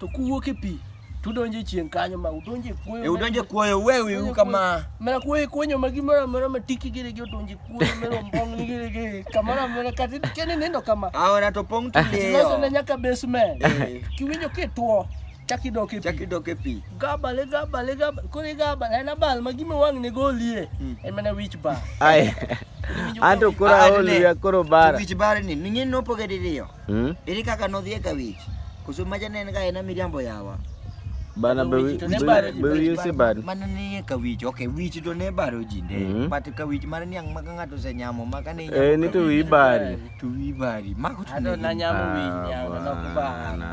To kuwuok e pi to udonjo e chieng' kanyo ma udonjo e kuoyo. E udonjo e kuoyo uwewi u kama. Mana kuoyo kuonyo ma gimoro amora ma tiki gire gi odonjo e kuoyo mero mbong' ni gire gi kamoro amora kata kene nindo kama. Aora to pong' Loso tuliyo. na nyaka basement. Eh. Kiwinjo kitwo chak idok e pi. Chaki dok e pi. Gabale gabale gabale koro igabale en abal ma gima wang' ne golie Mm. en mana wich bar. Ai. Iwinjo Anto ka- koro Ah, aol ne. wiya koro bara. Wich barni, ning'e nopoge diriyo. Hmm? Ere kaka nodhi e kawich. Koso maja ne en ga ena miriambo yawa. Bana be wi- Ne be- baro ji, be wi- use bad. Mana ni e kawich. Okay, wich to ne baro ji ne. Mhm. But kawich mar niang' ma ka ng'ato osenyamo ma ka ne inyamo Eh, ni to kawich, wi bari. to wi bari. Mako to Ado ne na nyamo Ah, winyi, ado na bana. kubana.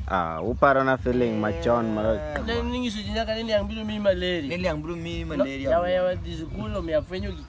Ah, uparo na feeling machon mar Ne ninyiso ji nyaka ni niang' biro miyi malaria. Ne liang' biro miyi malaria. Yawa yawa dhi sikul omiyo afwenyo gik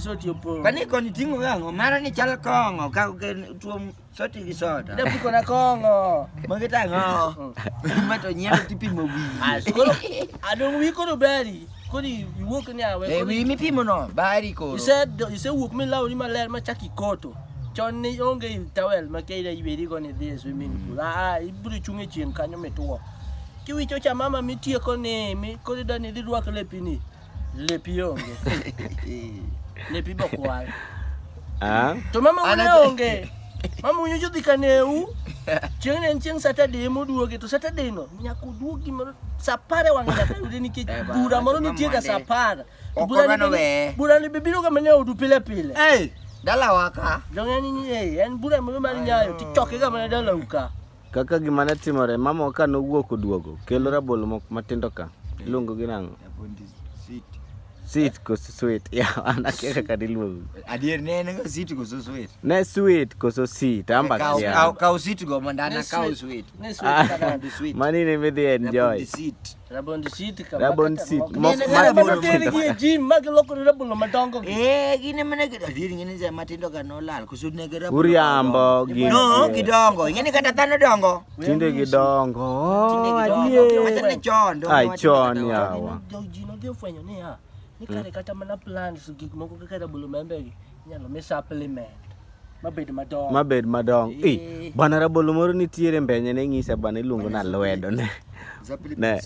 soti opong. Kani koni tingo gango mara ni chal kongo ka ke tuo soti gi soda. Da piko na kongo. Magi ta ngo. Ma to nyero ti pimo wi. Koro adong wi koro beri. Kodi iwuok ni awe. E wi mi pimo no bari koro. Ise ise wuok mi lawo ni maler ma chaki koto. Chon ni onge towel ma keira iberi go ni dhi swimming pool. Mm. Ah, ibiro chunge chien kanyo mituo. Kiwicho cha mama mitieko ni mi kodi da ni dhi rwak lepini. Lepi onge. Lepi bokwal. Ah. To mama une onge. Mama unyo jodhi kaneu. Chieng' ne en chieng' Saturday moduoge to Saturday no nyaka uduogi moro saa apar e wang'e nyaka yude nikech Eh, ba- bura moro ma nitie ga saa Monday. apar. Ok Bura wabano ni- weye. Bura ni bibiro ga mana e odu pile pile. Hey, dalawa ka. Dong en ni eh, en bura moro mar nyayo tichoke ga mana dalau ka. Kaka gima ne timore, mama ka nowuok oduogo, kelo rabolo moko matindo ka. Iluongo gi nang'o? Sweet koso sweet? Yeah, an akia kaka diluongo. Adier ne en sweet koso sweet? Ne sweet koso sweet? Amba kia. Kaw sweet go mandana kaw sweet. Ne sweet ah, kada sweet. Mani ne midhi enjoy. Sweet. Rabon seat ka. Rabon seat. Mok mak rabon seat. Kini jin mak lok rabon lo matongo. Eh gini mana kita diri gini saya mati dok kan nolal kusut nih kita. Uriambo gini. No kidongo. Ini kata tano dongo. Cinde kidongo. Cinde kidongo. Macam ni con. Ay con ya. Jauh jino dia fanya ni ya. Ni kare kata mana plan sugik moko kata bulu membeli. Nyalo mesa pelimen. mabed madongo mabed madongo eh bana rabolo moro nitiere mbenye ne ng'isa bana iluongo na lwedo ne ne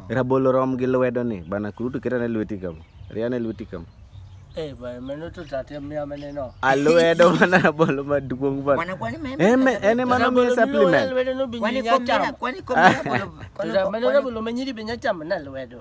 rabolo rom gi lwedo ni bana kurutu keta ne lweti kam ria ne lweti kam eh bana meno to tate mia mene no alwedo bana rabolo maduong bana bana kwani meme eme ene mano mi supplement kwani komera kwani komera bolo meno rabolo menyiri binya cham na lwedo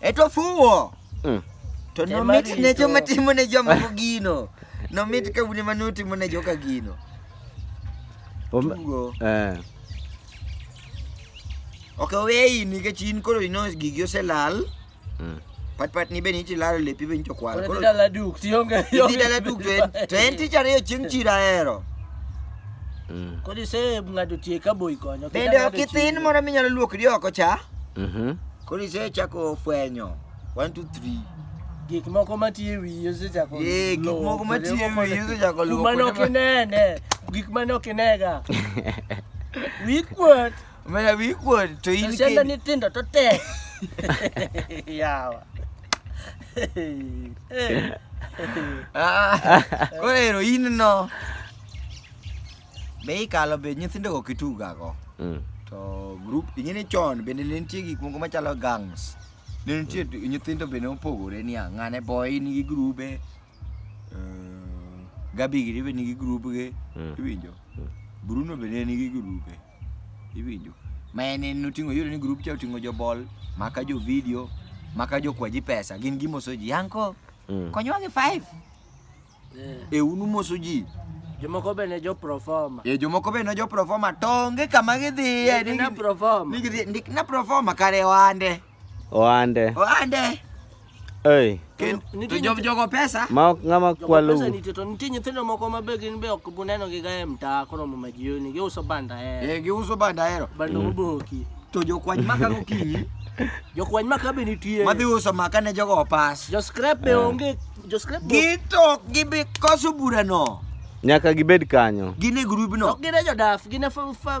E to fuwo. Mm. To Ema nomit ne rito. joma timo ne jomoko gino. Nomit ka une mane utimo ne joka gino. Om- Tugo. Eh. Ok oweyi nikech in koro ino gigi oselal. Mm. Pat pat ni be ni tilalo lepi be nito kwal. Koro Koro dhi dala duk tionge. idhi dala duk to en- to en tich ariyo chieng' chira hero. Mm. Kodi se ng'ado tie ka boy konyo. Bende ok ithin moro minyalo luokri oko cha. Mhm. Koro isechako fwenyo. One, two, three. Gik moko matiyo e wiyi osechako Eh, gik luwo moko kuonde matiyo e moko wiyi ne- osechako luwo Kuma ne ok kuonde ma- inene, gik ma ne ok inega. Wiyi kuot, Mera wiyi kuot to in to sianda kedi. nyithindo to tek. Yawa. Ah, Koro ero in no. Be ikalo be nyithindogo kitugago? Mm. To group ing'eni chon bende ne nitie gik moko machalo gangs. Ne nitie nyithindo bende mopogore niya ng'ane boy nigi grube. eh, Gabi giri be nigi grubge. Mm. Iwinjo? Mm. Bruno be ne nigi grube. Iwinjo? Ma en en oting'o iyudo ni grup cha oting'o jobol, maka jo video, maka jokwaji pesa. Gin gimoso ji. Yanko, Mm. konywa gi five. e un umoso ji jomoko be ne jo proforma e jomoko be ne jo proforma to onge kama gidhiye ni na proforma ni gidhi ndik na proforma kare oande oande oande Hey. Ken, to job jogo pesa ma ok ng'ama kwalo pesa nitie to nitie nyithindo moko ma be gin be ok buneno gi gae mtaa kono mama jioni giuso banda hero eh giuso banda hero bando mm. moboki to jokwany maka gokinyi jokwany maka be nitie madhi uso maka ne jogo opas jo scrap be eh. onge Gitok gibi koso burano. Nyaka gibed kanyo. Gin e grubno. Ok gin e jodaf, gin e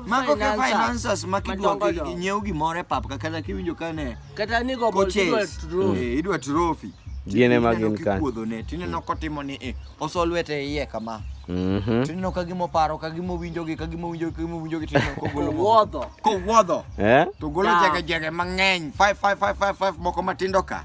mago ke financers ma kidwa nyiew gimoro e pap kata kiwinjo ka ne kata ni go eh, idwa trophy. Gin e ma gin kanyo. Kuodho ne tineno kotimo ni eh, oso lwete iye kama. Mhm. Tineno ka gimo paro ka gimo winjo gi ka gimo winjo ka gimo winjo gi tineno ko golo wuodho. Ko wuodho. Eh? To golo jege jege mang'eny 5 5 5 5 moko matindo ka.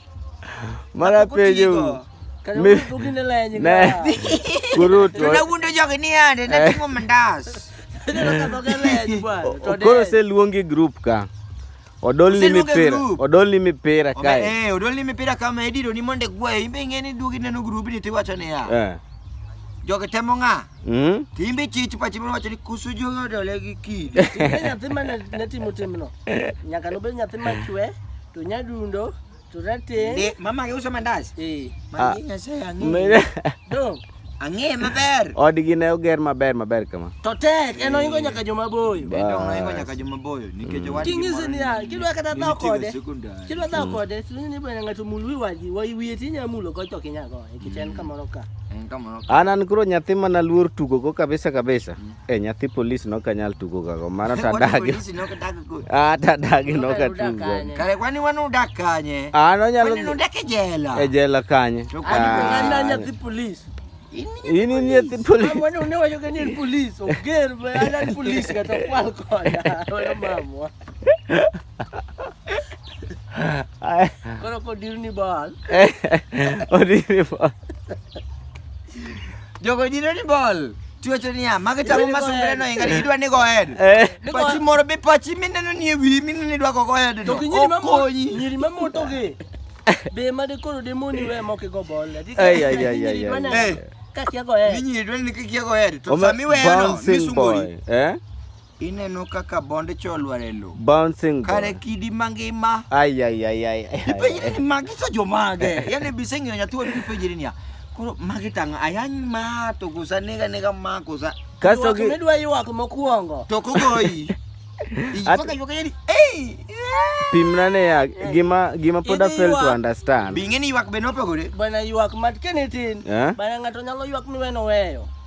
Mana penjo. Mi ne kurutu. Tunawundo jogi ni ande na timo mandas. Koro se luongi group ka. Odolni mipira, odolni mipira kae. Eh, odolni mipira kama ediro ni monde gwayo. Imbe ng'e ni duogi neno grubi ni tiwacho niya. Eh. Jogi temo ng'a? Mm. Timbe chich pachi moro wacho ni kusu jogo dole gi kidi. Timbe nyathi ma ne ne timo timno. Nyaka nobed nyathi machwe to nyadundo to rateng'. Ndi mama gi uso mandas. Eh, Mama nyasaye ang'e. Mene- dong. Ang'e maber. Odgi ne oger maber maber kama. To tek en oingo nyaka joma boyo. Bas. Bende onoingo nyaka joma boyo nikech owadgi Kinyise moro niya, ni- kidwa kata ni dhaw nitiego kode. sekondari. Kidwa dhaw kode, to ni bwana ng'ato mul wi wadgi, wa wiye tinya mulo gocho kinya goye. An an koro nyathi mana luor tugo go kabisa kabisa. Mm. Eh nyathi polis no kanyal tugo ga go mara ta dagi. Ah ta dagi no ka tugo. Kare kwani wanu dak kanye? Ah no nyalo. Kwani dak e jela. E jela kanye. An an nyathi polis. Ini ni nyathi polis. Mwana une wajo kani ni polis. Oger ba ana polis kata kwal koda. Oyo mamwa. Koro kodirni ball. Odiri ball. Jogo dino ni ball. Tiwacho niya, magi tamo ma sungre no inga idwa ni go head. Eh. Pachi moro be pachi mineno ni e wiyi mineno ni idwa go go head no. To gi nyiri ma mo- Okonyi. nyiri ma moto gi. Be ma de koro de moni we mo ke go ball. Adi ka- Ay, ay, ay, ay, nyiri ay, dwa na- ay. Ka kia go eh. Minyiri idwa ni kikia go head. To Ome- sami weyo no bouncing misungori. boy, eh? Ineno kaka bond cha olwar e lo. Bouncing ball. Kare kidi mangima. Ai ai ai ai. Ipenjri ni magi sa jomage. Yaani biseng'iyo nyathi wadu ipenjri niya. Koro magi tang' ayany ma to kosa nega nega ma kosa. Kasto gi dwa ywak mokuongo. To kogoyi. Ipaka ywak yani. Ei. Pimna ne ya gima gima pod fail to understand. Bing'eni ywak be nopogore. Bana ywak mat kenitin. Eh? Bana ng'ato nyalo ywak miweno weyo.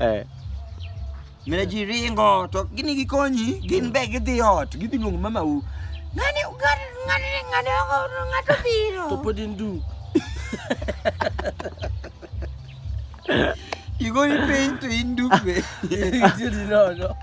Eh. Mine ji ringo to gini gikonyi, gin be gidhi ot, gidhi luongo mama u. Ngani ngani ngani ngani ngato biro. To pod in duk. Igoni piny to in duk be. Itiyo di nono.